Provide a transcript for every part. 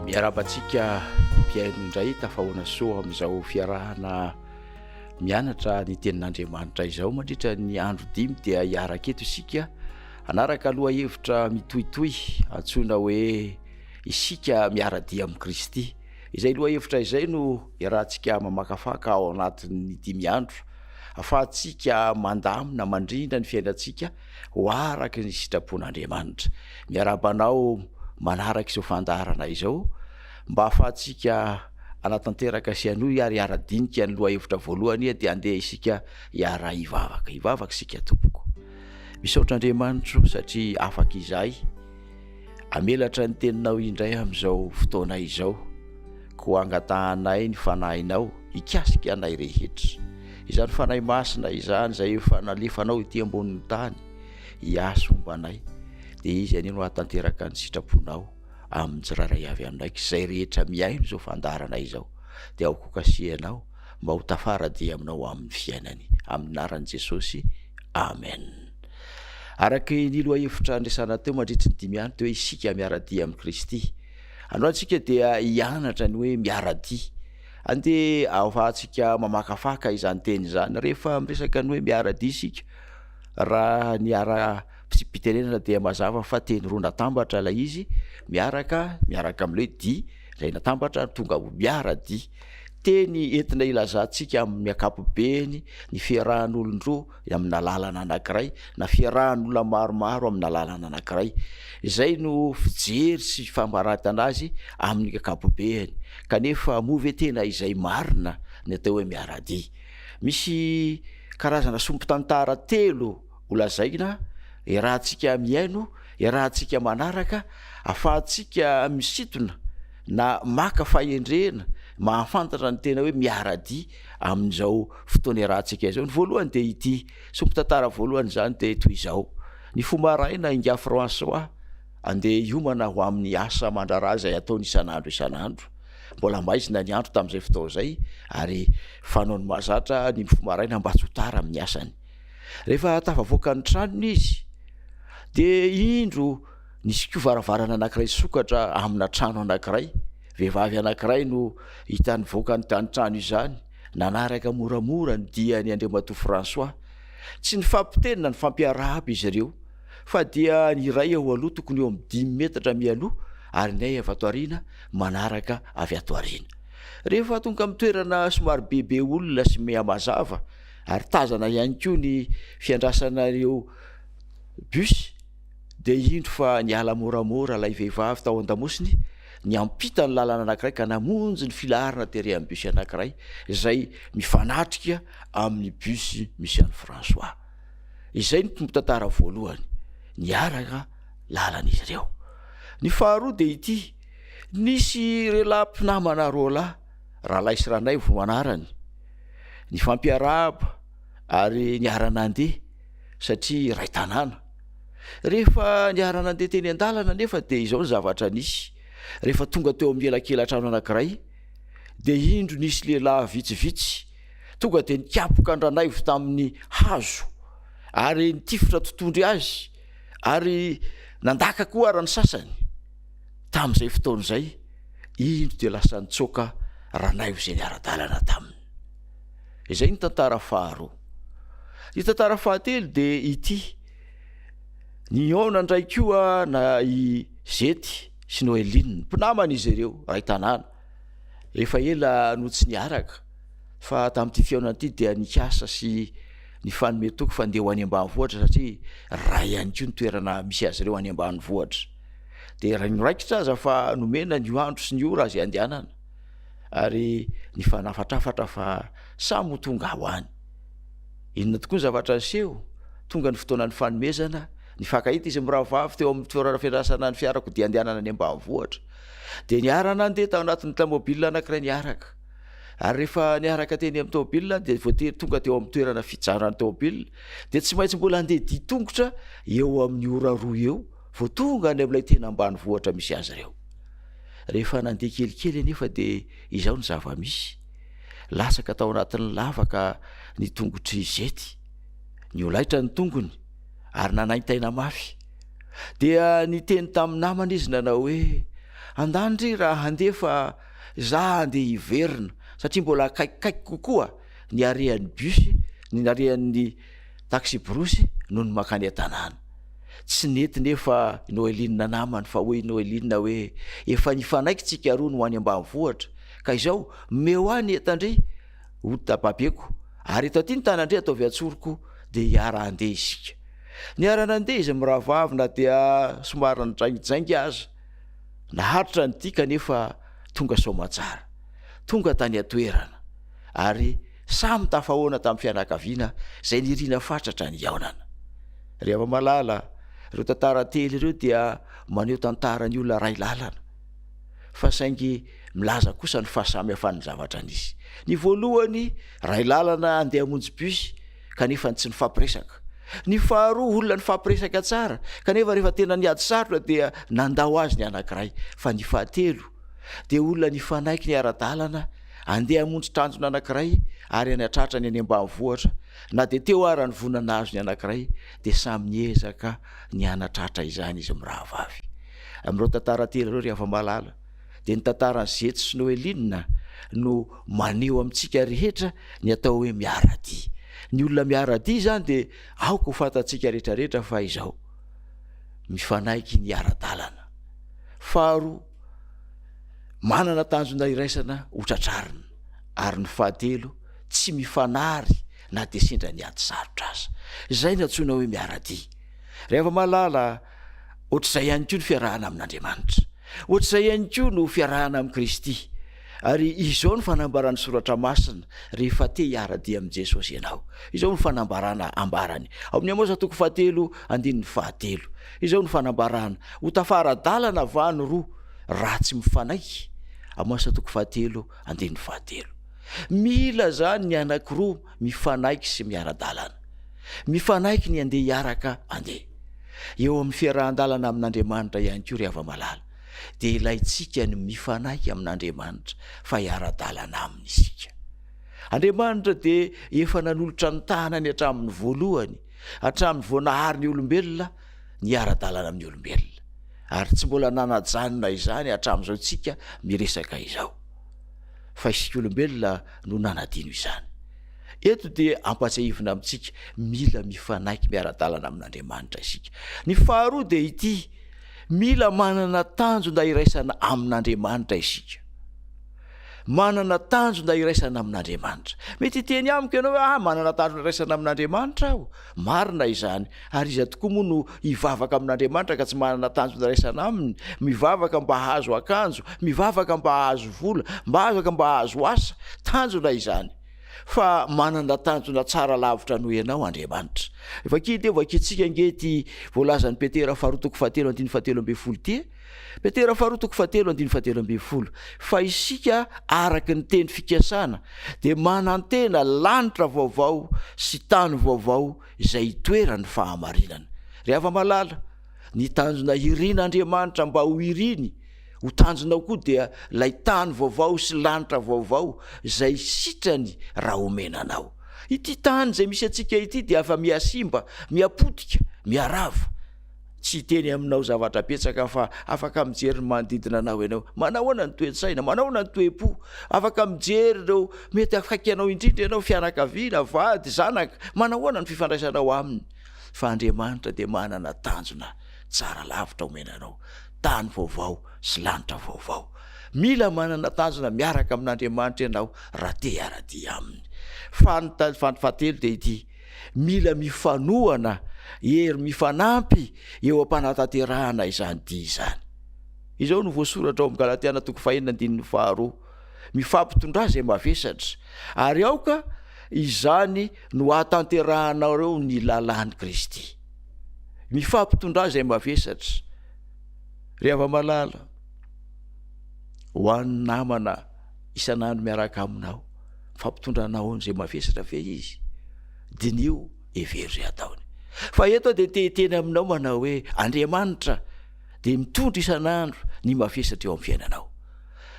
Miarahaba antsika mpihaino indray tafahoana soa amin'izao fiarahana mianatra ny tenin'Andriamanitra izao mandritra ny andro dimy dia hiaraka eto isika anaraka loha hevitra mitohitohy antsoina hoe isika miara-dia amin'i Kristy. Izay lohahevitra izay no iarahantsika mamakafaka ao anatin'ny dimy andro, ahafahantsika mandamina mandrindra ny fiainantsika ho araka ny sitrapon'Andriamanitra. Miarahaba anao manaraka izao fandaharana izao, mba ahafahantsika hanatanteraka sy hanohy ary hiara-dinika ny lohahevitra voalohany dia andeha isika hiara-hivavaka. Hivavaka isika tompoko. Misaotra Andriamanitro satria afaka izahay. Amelatra ny teninao indray amin'izao fotoana izao, koa angatahanay ny Fanahinao hikasika anay rehetra. Izany Fanahy Masina izany izay efa nalefanao ety ambonin'ny tany hiasa homba anay, dia Izy anie no hahatanteraka ny sitraponao amin'ny tsirairay avy aminay, ka izay rehetra mihaino izao fandaharana izao dia ao kokasihanao mba ho tafara-dia aminao amin'ny fiainany. Amin'ny anaran'i Jesosy, Amen. Araka ny lohahevitra niresahana teo mandritry ny dimy andro teo hoe isika miara-dia amin'i Kristy. Androany isika dia hianatra ny hoe miara-dia. Andeha ahafahantsika mamakafaka izany teny izany rehefa miresaka ny hoe miara-dia isika. Raha ny ara-pitsipitenenana dia mazava fa teny roa natambatra ilay izy, miaraka, miaraka amin'ilay hoe dia, izay natambatra ary tonga ho miara-dia. Teny entina ilazantsika amin'ny ankapobeny ny fiarahan'olon-droa amina lalana anankiray na fiarahan'olona maromaro amina lalana anankiray. Izay no fijery sy famaratana azy amin'ny ankapobeny. Kanefa moa ve tena izay marina ny atao hoe miara-dia? Misy karazana sombin-tantara telo holazaina iarahantsika mihaino, iarahantsika manaraka, afahantsika misintona na maka fahendrena mahafantatra ny tena hoe miara-dia. amin'izao fotoana iarahantsika izao. Ny voalohany dia ity, sombin-tantara voalohany izany dia toy izao, ny fo maraina Ingahy François andeha hiomana ho amin'ny asa aman-draharaha izay ataony isan'andro isan'andro, mbola maizina ny andro tamin'izay fotoana izay ary fanaony mahazatra ny mifoha maraina mba tsy ho tara amin'ny asany. Rehefa tafavoaka ny tranony izy dia indro nisy koa varavarana anankiray sokatra amina trano anankiray, Vehivavy anankiray no hita nivoaka ny tanitrano izany, nanaraka moramora ny diany Andriamatoa François. Tsy nifampiteny na nifampiarahaba izy ireo, fa dia ny iray eo aloha tokony eo amin'ny dimy metatra mialoha ary ny ahy avy ato aoriana manaraka avy ato aoriana. Rehefa tonga amin'ny toerana somary bebe olona sy mihamazava ary tazana ihany koa ny fiandrasana ireo bus, Dia indro fa niala moramora ilay vehivavy tao an-damosiny, niampita ny lalana anankiray ka namonjy ny filaharana tery amin'ny bus anankiray izay mifanatrika amin'ny bus misy an'i François. Izay no tompon-tantara voalohany, niaraka lalana izy ireo. Ny faharoa dia ity, nisy rehalahy mpinamana roa lahy, Ralahy sy Ranaivo no anarany, nifampiarahaba ary niara-nandeha. satria iray tanàna. Rehefa niara-nandeha teny an-dalana anefa dia izao ny zavatra nisy, rehefa tonga teo amin'ny elakelan-trano anankiray dia indro nisy lehilahy vitsivitsy tonga dia nikapoka an-dranaivo tamin'ny hazo ary nitifitra totondry azy ary nandaka koa ara ny sasany. Tamin'izay fotoana izay, indro dia lasa nitsoaka ranaivo izay niara-dalana taminy. Izay ny tantara faharoa. Ny tantara fahatelo dia ity. Nihaona indray koa na i Zety sy Noeline, mpinamana izy ireo, iray tanàna. Efa ela no tsy niaraka fa tamin'ity fihaonana ity dia nikasa sy nifanome toky fa ndeha ho any ambanivohitra satria raha ihany koa ny toerana misy azy ireo any ambanivohitra. Dia raha ny raikitra aza fa nomena ny andro sy ny ora azy handehanana. ary nifanafatrafatra fa samy ho tonga ho any. Inona tokoa ny zavatra niseho? Tonga ny fotoana nifanomezana, nifankahita izy mirahavavy teo amin'ny toerana fiandrasana ny fiarakodia andehanana any ambanivohitra. Dia niara-nandeha tao anatin'ny tamobilina anankiray niaraka. Ary rehefa niaraka teny amin'ny taobilina dia voatery tonga teo amin'ny toerana fijanan'ny taobilina, dia tsy maintsy mbola handeha dia tongotra eo amin'ny ora roa eo vao tonga any amin'ilay tena ambanivohitra misy azy ireo. Rehefa nandeha kelikely anefa dia izao ny zava-misy, latsaka tao anatin'ny lavaka ny tongotr'i Izety, niolaitra ny tongony ary nanaintaina mafy. Dia niteny tamin'ny namany izy nanao hoe, Andany ry raha handeha fa za handeha hiverina satria mbola akaikikaiky kokoa ny harehan'ny bus, ny harehan'ny Taksiborosy no nimakany an-tanàna. Tsy nety nefa i Noeline namany fa hoy i Noeline hoe, efa nifanaiky tsika roa ny ho any ambanivohitra ka izao omeo ahy ny entan-dry ho babeko ary eto aty ny tanan-dry ataovy an-tsoroko dia hiara-handeha isika. Niara-nandeha izy mirahavavy na dia somary nijaingijaingy aza. Naharitra ny tia kanefa tonga soamantsara. Tonga tany an-toerana ary. Samy tafahoana tamin'ny fianakaviana izay nirina fatratra ny hihaonana. Ry hava-malala, ireo tantara telo ireo dia maneho tantaran'ny olona iray lalana, fa saingy milaza kosa ny fahasamihafan'ny zavatra nisy. Ny voalohany, iray lalana handeha hamonjy bus, kanefa tsy nifampiresaka. Ny faharoa, olona nifampiresaka tsara, kanefa rehefa tena niady sarotra dia nandao azy ny anankiray. Fa ny fahatelo, dia olona nifanaiky ny ara-dalana Andeha hamonjy tanjona anankiray ary any an-tratra ny any ambanivohitra, na dia teo ara ny voina nahazo ny anankiray dia samy niezaka ny hanatratra izany izy mirahavavy. Amin'ireo tantara telo ireo ry Havamalala dia ny tantaran'i Zetsy sy Noeline no maneho amintsika rehetra ny atao hoe miara-dia. Ny olona miara-dia izany dia aoka ho fantatsika rehetra rehetra fa izao, mifanaiky ny ara-dalana. Faharoa. Manana tanjona iraisana ho tratrarina, ary ny fahatelo, tsy mifanary na dia sendra ny ady sarotra aza. Izay no antsoina hoe miara-dia. Rehefa mahalala hoatr'izay ihany koa ny fiarahana amin'Andriamanitra, hoatr'izay ihany koa no fiarahana amin'i Kristy. Ary izao no fanambaran'ny soratra masina, rehefa te hiara-dia amin'i Jesosy ianao. Izao no fanambarana ambarany, ao amin'ny Amosa toko fahatelo andininy fahatelo. Izao no fanambarana, ho tafara-dalana va ny roa, raha tsy mifanaiky? Amosa toko fahatelo andininy fahatelo. Mila izany ny anankiroa mifanaiky sy miara-dalana. Mifanaiky ny andeha hiaraka andeha. Eo amin'ny fiarahan-dalana amin'Andriamanitra ihany koa ry hava-malala. dia ilaintsika ny mifanaiky amin'Andriamanitra fa hiara-dalana Aminy isika. Andriamanitra dia efa nanolotra ny tanany hatramin'ny voalohany, hatramin'ny vao nahary ny olombelona, ny hiara-dalana amin'ny olombelona. Ary tsy mbola nanajanona izany hatramin'izao isika miresaka izao. Fa isika olombelona no nanadino izany. Eto dia ampatsiahivina amintsika mila mifanaiky miara-dalana amin'Andriamanitra isika. Ny faharoa dia ity, Mila manana tanjona iraisana amin'Andriamanitra isika. Manana tanjona iraisana amin'Andriamanitra. Mety hiteny amiko ianao hoe ah, manana tanjona iraisana amin'Andriamanitra aho. Marina izany. Ary iza tokoa moa no hivavaka amin'Andriamanitra ka tsy manana tanjona iraisana aminy? Mivavaka mba hahazo akanjo, mivavaka mba hahazo vola, mivavaka mba hahazo asa. Tanjona izany. fa manana tanjona tsara lavitra noho ianao Andriamanitra. Vakia dia vakiantsika ange ity voalazan'i Petera faharoa toko fahatelo andiny fahatelo ambin'ny folo ity. Petera faharoa toko fahatelo andiny fahatelo ambin'ny folo. Fa isika araka ny teny fikasana dia manantena lanitra vaovao sy tany vaovao izay itoeran'ny fahamarinana. Ry hava-malala, ny tanjona hirin'Andriamanitra mba ho iriny Ho tanjonao koa dia ilay tany vaovao sy lanitra vaovao izay sitrany raha omena anao. Ity tany izay misy antsika ity dia afa-mihasimba, mihapotika, miharava. Tsy hiteny aminao zavatra betsaka aho fa afaka mijery ny manodidina anao ianao. Manahoana ny toe-tsaina? Manahoana ny toe-po? Afaka mijery ireo mety akaiky anao indrindra ianao, fianakaviana, vady, zanaka. Manahoana ny fifandraisanao aminy? Fa Andriamanitra dia manana tanjona tsara lavitra omena anao. tany vaovao sy lanitra vaovao. Mila manana tanjona miaraka amin'Andriamanitra ianao raha te hiara-dia Aminy. Fanontaniana fahatelo dia ity, Mila mifanohana hery mifanampy eo am-panatanterahana izany dia izany. Izao no voasoratra ao amin'ny Galatiana toko fahenina andininy faharoa, Mifampitondrà izay mavesatra, ary aoka izany no ahatanterahanareo ny lalàn'i Kristy. ny fahampitondrana izay mavesatra. Ry hava-malala, ho an'ny namana isan'andro miaraka aminao, fampitondranao anao izay mavesatra ve izy? Diniho, hevero izay ataony. Fa eto dia te hiteny aminao manao hoe Andriamanitra dia mitondra isan'andro ny mavesatra eo amin'ny fiainanao.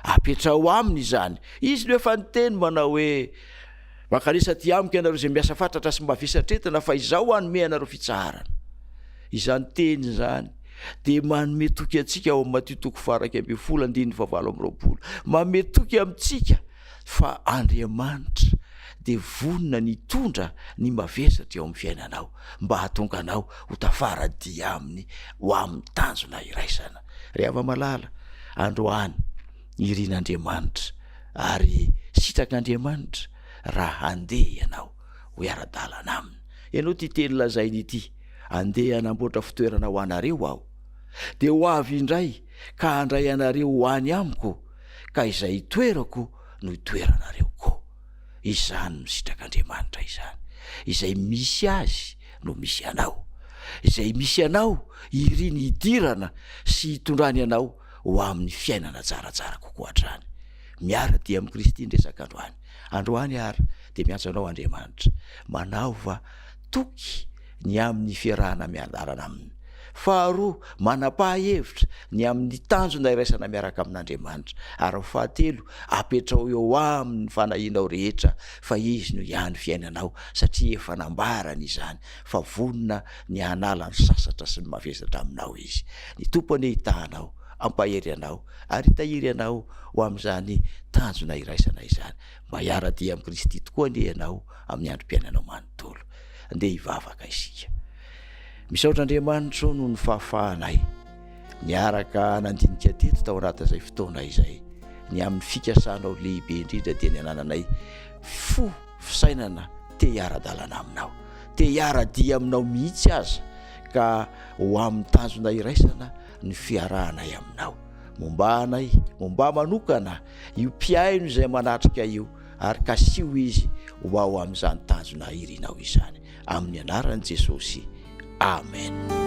Apetraho aminy izany. Izy no efa niteny manao hoe Mankalesa aty amiko ianareo izay miasa fatratra sy mba vesatretina fa izaho hanome anareo fitsaharana. Izany teny izany dia manome toky antsika ao amin'ny Matio toko faharaika ambin'ny folo andininy fahavalo amby roapolo. Manome toky amintsika fa Andriamanitra dia vonona ny hitondra ny mavesatra eo amin'ny fiainanao mba hahatonga anao ho tafara-dia aminy ho amin'ny tanjona iraisana. Ry hava-malala, androany, Irin'Andriamanitra ary sitrak'Andriamanitra raha handeha ianao ho hiara-dalana Aminy. Henoy ity teny lazainy ity, Andeha hanamboatra fitoerana ho anareo Aho, dia ho avy indray ka handray anareo ho any Amiko, ka izay hitoerako no hitoeranareo koa. Izany no sitrak'Andriamanitra izany. Izay misy Azy no misy anao. Izay misy anao, iriny hidirana sy hitondrany anao ho amin'ny fiainana tsaratsara kokoa hatrany. Miara-dia amin'i Kristy ny resaka androany. Androany àry dia miantso anao Andriamanitra. Manaova toky ny amin'ny fiarahana miandalana Aminy. Faharoa, manam-paha-hevitra ny amin'ny tanjona iraisana miaraka amin'Andriamanitra. Ary fahatelo, apetraho eo Aminy ny fanahianao rehetra, fa Izy no hiany fiainanao, satria efa nambarany izany fa vonona ny hanala ny sasatra sy ny mavesatra aminao Izy. Ny Tompo anie hitaha anao, hampahery anao, ary hitahiry anao ho amin'izany tanjona iraisana izany. Mba hiara-dia amin'i Kristy tokoa anie ianao amin'ny androm-piainanao manontolo. Andeha hivavaka isika. Misaotra Andriamanitro noho ny fahafahanay niaraka nandinika teto tao anatin'izay fotoana izay. Ny amin'ny fikasanao lehibe indrindra dia ny anananay fo fisainana te hiara-dalana aminao, te hiara-dia aminao mihitsy aza, ka ho amin'ny tanjona iraisana ny fiarahanay aminao. Mombà anay, mombà manokana io mpihaino izay manatrika io, ary kasiho izy ho ao amin'izany tanjona irinao izany. Amin'ny anaran'i Jesosy, amena.